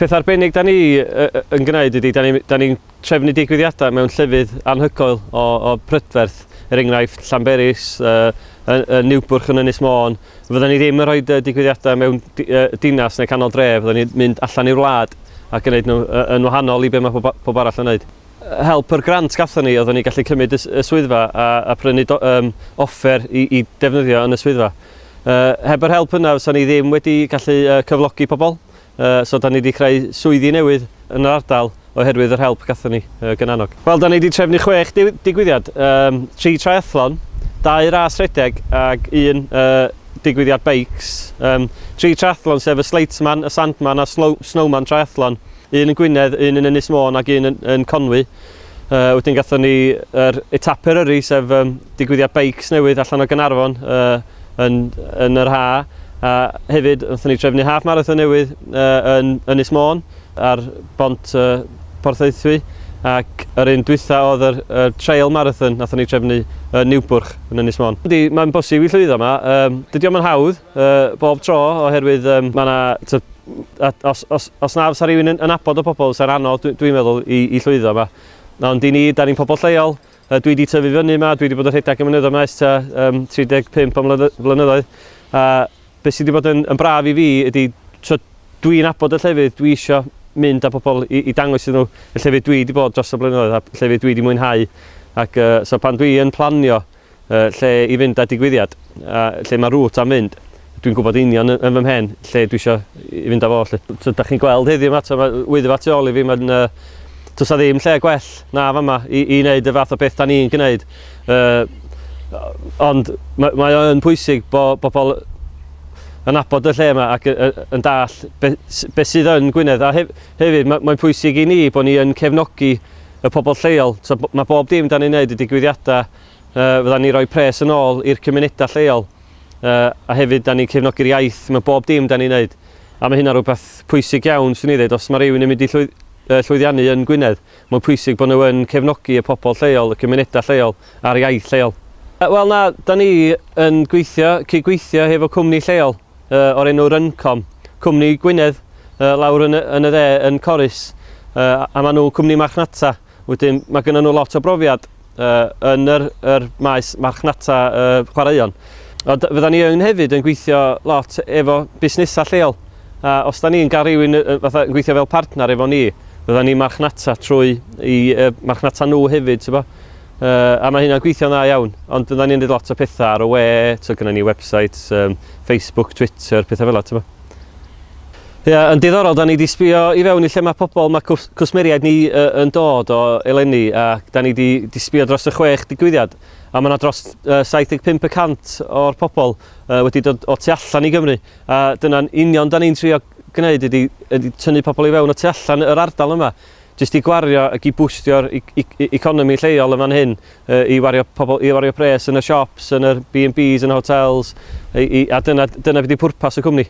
Peth arbennig da ni yn gwneud ydy, da ni'n ni trefnu digwyddiadau mewn llefydd anhygoel o, o prydferth, er enghraifft Llanberis, uh, y Niwbwrch yn Ynys Môn. Fydden ni ddim yn rhoi digwyddiadau mewn dinas neu canol dref, fydden ni'n mynd allan i'r wlad ac yn gwneud nhw yn wahanol i beth mae pob arall yn gwneud. help yr grant gathon ni oeddwn ni gallu cymryd y y swyddfa a a prynu do- yym offer i i defnyddio yn y swyddfa. Yy heb yr help yna fysan ni ddim wedi gallu yy cyflogi pobl yy so 'dan ni 'di creu swyddi newydd yn yr ardal oherwydd yr help gathon ni yy gan Annog. Wel 'dan ni 'di trefnu chwech diw- digwyddiad, yym tri triathlon, dau ras rhedeg ag un yy digwyddiad beics. Yym tri triathlon sef y Sleightman, y Sandman a Slow- Snowman Triathlon. un yn Gwynedd, un yn Ynys Môn ac un yn, yn Conwy. Uh, wedyn gatho ni yr er etap Eryri, sef um, digwyddiad beics newydd allan o Gynarfon uh, yn, yn yr ha. A hefyd, wnaethon ni trefnu half marathon newydd uh, yn Ynys Môn ar bont uh, Porthaethwy ac yr un dwytha oedd yr, yr trail marathon nathon ni trefnu yn Newbwrch yn Ynys Môn. Mae'n bosib i llwyddo yma, um, dydy o'm yn hawdd, bob tro oherwydd mae yna os, os, os na fysa rhywun yn, yn abod o pobl fysa'n anodd dwi'n dwi meddwl i, i llwyddo yma. Na, ond i ni, da ni'n pobl lleol, dwi wedi tyfu fyny yma, dwi wedi bod yn rhedeg y mynyddoedd maes ta um, 35 o flynyddoedd. A beth sydd wedi bod yn, yn braf i fi ydy, so, dwi'n abod y llefydd, dwi eisiau mynd â pobl i, i dangos iddyn nhw y llefydd dwi wedi bod dros y blynyddoedd a llefydd dwi wedi mwynhau. Ac uh, so pan dwi'n planio lle i fynd a digwyddiad, a lle mae route am fynd. Dwi'n gwybod union yn fy mhen lle dwi eisiau i fynd â fo 'lly. Tibod, dach chi'n gweld heddiw 'ma, mae Wyddfa tu ôl i fi, mae'n... Does 'na ddim lle gwell na fama i i wneud y fath o beth 'dan ni'n gwneud. Ond mae o yn pwysig bod pobl yn nabod y lle 'ma ac yn dallt be sydd yn Gwynedd. A hefyd, mae'n pwysig i ni bod ni yn cefnogi y pobl lleol. So, mae bob dim dan ni'n wneud y digwyddiadau, uh, fydda ni roi pres yn ôl i'r cymunedau lleol, uh, a hefyd dan ni'n cefnogi'r iaith, mae bob dim dan ni'n wneud. A mae hynna rhywbeth pwysig iawn, swn i ddweud, os mae rhywun yn mynd i llwyd, uh, llwyddiannu yn Gwynedd, mae'n pwysig bod nhw yn cefnogi y pobl lleol, y cymunedau lleol a'r iaith lleol. Wel na, da ni yn gweithio, cyd-gweithio hefo cwmni lleol. o'r enw Runcom, cwmni Gwynedd lawr yn y dde yn Corris, a maen nhw'n cwmni marchnata. Wedyn mae gynnyn nhw lot o brofiad yn yr maes marchnata chwaraeon. Ond fydda ni yn hefyd yn gweithio lot efo busnesau lleol. A os da ni'n cael rhywun fatha yn gweithio fel partner efo ni, fydda ni'n marchnata trwy i marchnata nhw hefyd, ti'n gwybod. Yy, a mae hynna'n gweithio'n dda iawn, ond fyddan ni'n rhaid lot o pethau ar y we, so gyda ni website, um, Facebook, Twitter, pethau fel yna, Ie, yeah, yn diddorol, da ni wedi sbio i fewn i lle mae pobl, mae cws cwsmeriaid ni uh, yn dod o eleni, a da ni wedi sbio dros y chwech digwyddiad, a mae yna dros uh, 75 y cant o'r pobl uh, wedi dod o tu allan i Gymru, a dyna'n union da ni'n trio gwneud ydy, ydy tynnu pobl i fewn o tu allan yr ardal yma. jyst i gwario ac i bwstio'r economi lleol yn fan hyn, i wario pobl, i wario pres yn y siops, yn yr B&Bs, yn y hotels, a dyna, dyna beth yw pwrpas y cwmni.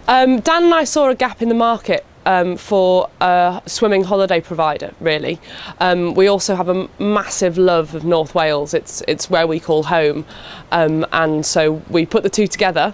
Um, Dan and I saw a gap in the market um, for a swimming holiday provider, really. Um, we also have a massive love of North Wales. It's, it's where we call home. Um, and so we put the two together